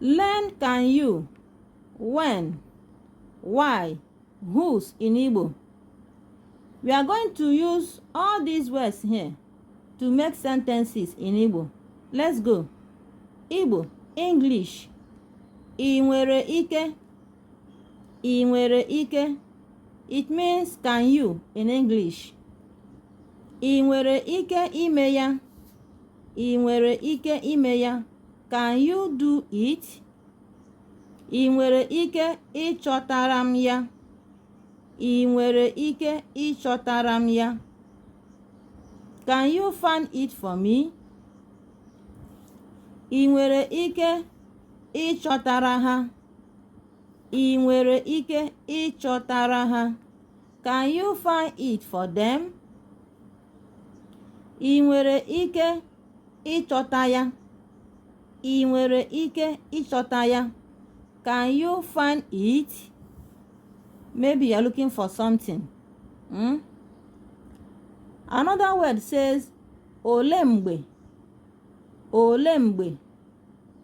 Learn can you, when, why, whose in Igbo. We are going to use all these words here to make sentences in Igbo. Let's go. Igbo, English. Ị nwere ike. Ị nwere ike. It means can you in English. Ị nwere ike ime ya. ị nwere ike ime ya can you do it ị nwere ike ịchọtara m ya ị nwere ike ịchọtara m ya can you find it for me ị nwere ike ịchọtara ha ị nwere ike ịchọtara ha Can you find it for them? Ị nwere ike ịchọta ya? Ị nwere ike ịchọta ya? Can you find it? Maybe you're looking for something. Hmm? Another word says olee mgbe olee mgbe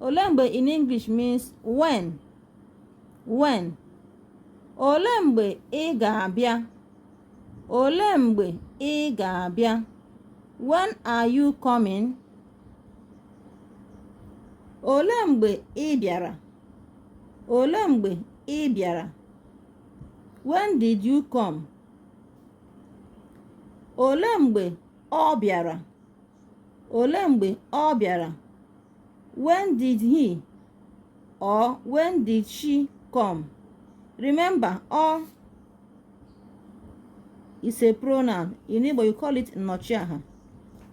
olee mgbe in English means when When? Olee mgbe ị ga-abịa? Olee mgbe ị ga-abịa? When are you coming? Olee mgbe ị bịara? Olee mgbe ị bịara? When did you come? Olee mgbe ọ bịara? Olee mgbe ọ bịara? when did he or when did she come remember all is a pronoun in igbo you call it nnọchiaha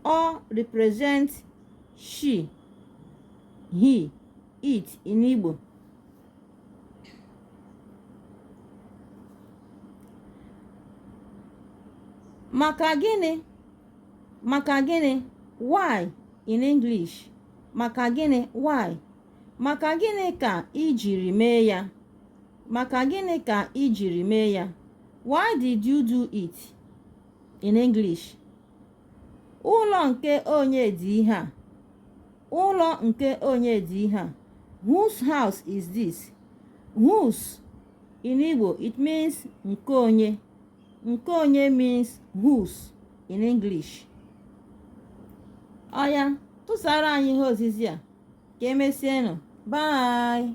all represent she he it in igbo maka gịnị maka gịnị why in English maka gịnị why maka gịnị ka i jiri mee ya maka gịnị ka i jiri mee ya why did you do it in English ụlọ nke onye dị ihe a ụlọ nke onye dị ihe a whose house is this whose in Igbo it means nke onye nke onye means whose in English ọ ya tụsara anyị ihe ozizi a ka e mesienụ bye